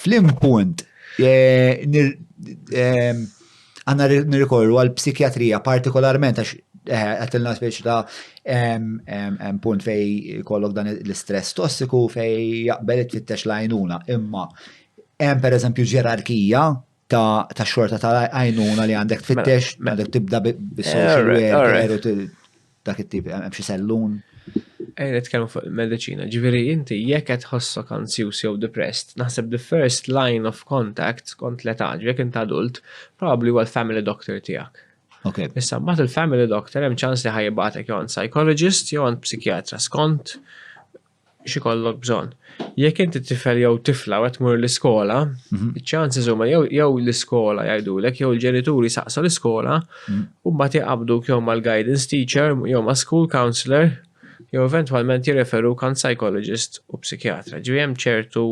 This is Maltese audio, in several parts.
Flim punt, għanna nirrikorru għal psikjatrija partikolarment għax għatilna speċi ta' punt fej kollok dan l-istress tossiku fej jaqbel it-tittex lajnuna. Imma, hemm per eżempju ġerarkija ta' xorta ta' għajnuna li għandek tfittex, mela. għandek tibda bis-social dak it-tip, hemm xi sellun. Ej, nitkellmu fuq il-medicina, ġifieri inti jekk qed tħossok anzjuż jew depressed, naħseb the first line of contact kont l-età, jekk int adult, probabbli huwa l-family doctor tiegħek. Okay. Issa mbagħad il-family doctor hemm ċans li ħajibgħatek jew għand psychologist jew għand psikjatra skont x'ikollok bżonn. Jekk inti tifel jew tifla u qed tmur l-iskola, mhm. iċ-chances huma jew l-iskola jgħidulek jew il-ġenituri saqsu l-iskola mhm. u mbagħad jaqabduk jew mal-guidance teacher jew ma' school counselor jew eventwalment jirreferu kan psychologist u psikjatra. Ġifieri hemm ċertu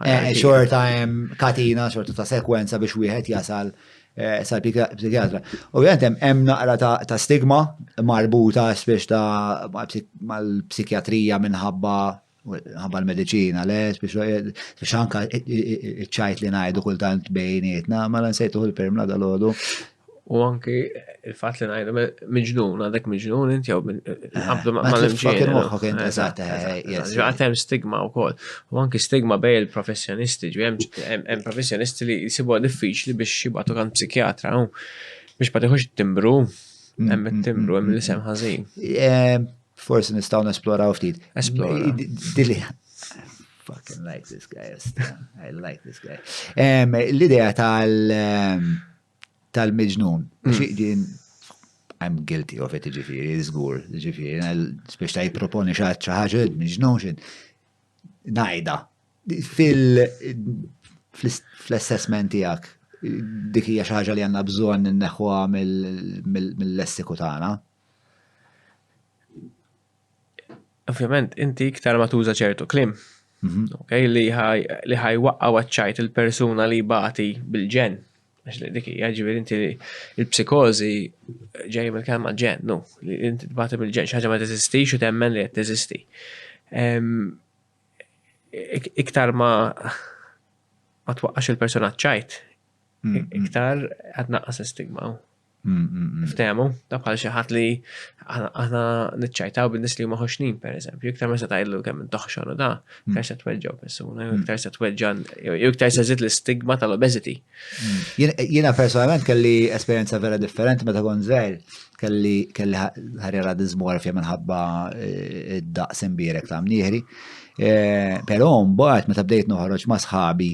Eh, xorta hemm katina, xorta ta' sekwenza biex wieħed jasal eh, sal-psikjatra. Ovvijament hemm naqra ta' stigma marbuta spiex ta' mal-psikjatrija minħabba ħabba l-medicina, le, biex anka ċajt li najdu kultant bejnietna, ma l-nsejtu l-permla dal-ħodu, U anki il-fatt li ngħidu miġnun, għadek miġnun int jew qabdu ma' l-imġiel. Għatem stigma wkoll. U anki stigma bej il-professjonisti, ġi hemm professjonisti li jsibu diffiċli biex jibgħatu kan psikjatra biex ma tiħux timbru, hemm it-timbru, hemm l-isem ħażin. Forsi nistgħu nesploraw ftit. Esplora. Fucking like this guy. I like this guy. L-idea tal- tal-miġnun. Hmm. Din I'm guilty of it, ġifiri, zgur, ġifiri, biex ta' jiproponi xaħġa, miġnun xin, najda, fil-assessment tijak, dik hija xi ħaġa li għandna bżonn inneħħuha mill-lessiku tagħna. Ovvjament, inti iktar ma tuża ċertu klim, okay, li ħaj waqqa waċċajt il-persuna li bati bil-ġen. Għax li diki, ġivir inti il-psikozi ġej mill-kelma ġen, no, li inti bati bil-ġen, xaġa ma teżisti, xu temmen li teżisti. Iktar ma ma twaqqax il-persuna ċajt, iktar għadnaqqas stigma. Ftehmu, ta' bħal xi ħadd li aħna niċċajtaw bin-nies li huma ħoxnin pereżempju, iktar ma se tgħidlu kemm intoħxon u da, iktar se tweġġa' persuna, jew iktar se tweġġa' jew iktar se żid l-istigma tal-obesity. Jiena personalment kelli esperjenza vera differenti meta kont żgħir, kelli kelli ħarja radizmu għarfja minħabba eh, id-daqs imbierek ta' mnieħri. Eh, però mbagħad meta bdejt noħroġ ma' sħabi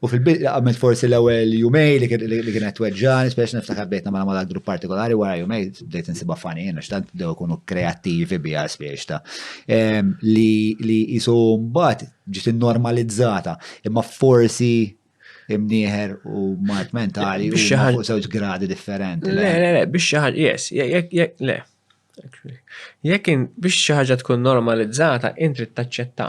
U fil-bidu għamilt forsi l-ewwel jumej li kienet tweġġani, speċi niftakar bdejt nagħmel mal grupp partikolari wara jumej bdejt insibha fani jiena x'tant bdew ikunu kreattivi biha spiex ta' ehm, li jisu mbagħad ġiet normalizzata imma forsi imnieħer u mart mentali u fuq żewġ gradi differenti. Le, le, le, biex xi ħaġa, yes, jek, jek, le. Jekk biex xi ħaġa tkun normalizzata, intri taċċetta.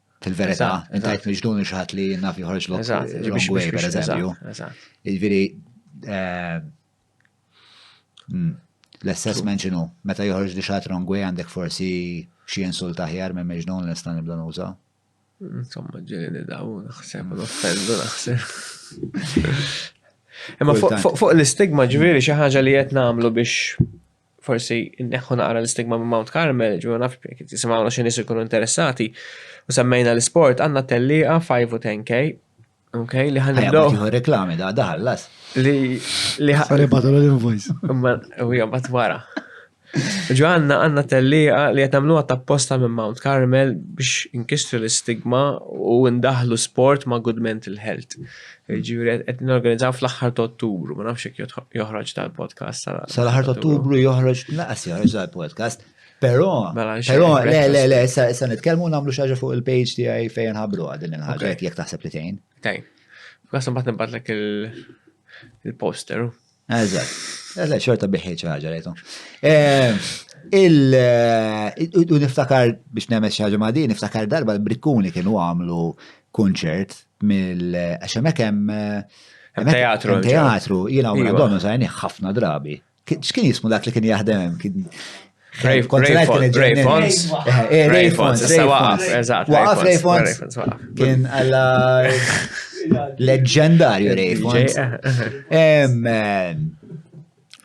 Fil-verità, intajt miġnun il xaħat li naf joħorġ l way, per eżempju. Il-viri, eh, hmm, l-assessment ġinu, meta joħorġ li xaħat wrong way għandek forsi xie insult aħjar minn miġnun l-istan ibda nuża. Insomma, ġeni daw, naħseb, l-offendu naħseb. Imma fuq l-istigma ġviri xi ħaġa li qed nagħmlu biex forsi neħħu naqra l-istigma minn Mount Carmel, ġu naf jisimgħuna xi nies ikunu interessati, u semmejna l-isport għandna telliqa 5 u 10K, ok, li ħan nibdew. reklami da daħallas. Li li ħan. Sorry batu l-invoice. Imma u jom bat wara. Ġu għanna għanna telliqa li qed nagħmluha ta' posta minn Mount Carmel biex inkisru l-istigma u ndaħlu sport ma' good mental health. Ġuri, għed n-organizzaw fl-axħar ta' ottubru, ma nafx jek joħroġ tal-podcast. Sal-axħar ta' ottubru joħroġ, naqas joħroġ tal-podcast. Pero, mela, pero, le, le, le, sa' nitkelmu namlu xaġa fuq il-page ti għaj fejn ħabru għadin il-ħagġa jek taħseb li tejn. Tejn. Għasum bat nibbatlek il-poster. Eżatt. Eżatt, xorta biħi ċaġa rejtu. Eh, eh, u niftakar biex nemes xaġa ma' din, niftakar darba l-brikkuni kienu għamlu kunċert mill għaxemek hemm eh, teatru. Teatru, jina u għadonu sajni ħafna drabi. X'kien jismu dak li kien jaħdem? Ray Fons. Ray Fons. Waqaf Ray Fons. Kien għalla leġendarju Ray Fons.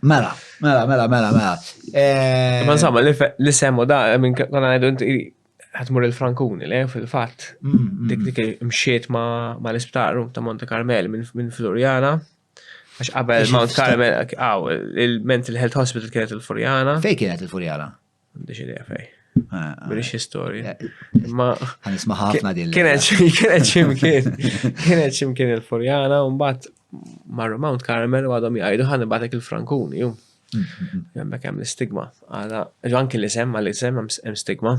Mela, mela, mela, mela, mela. Ma insomma, li semmu da, minn konna għajdu ħatmur il-Frankuni, le, fil-fat. Mm, mm. Dik dik mxiet ma l-isptar ta' Monte Carmel minn Floriana. Għax qabel Mount Carmel, għaw, il-Mental Health Hospital kienet il-Furjana. Fej kienet il-Furjana? Għandix idea fej. Ah, ah. British history. Eh, eh, ma. Għanisma ħafna din. Kienet ximkien. Kienet ximkien il-Furjana, un bat marru Mount Carmel u għadhom jgħidu ħan batek il-Frankuni. Hemmhekk hemm l-istigma. Għala anke li sem għal isem hemm stigma.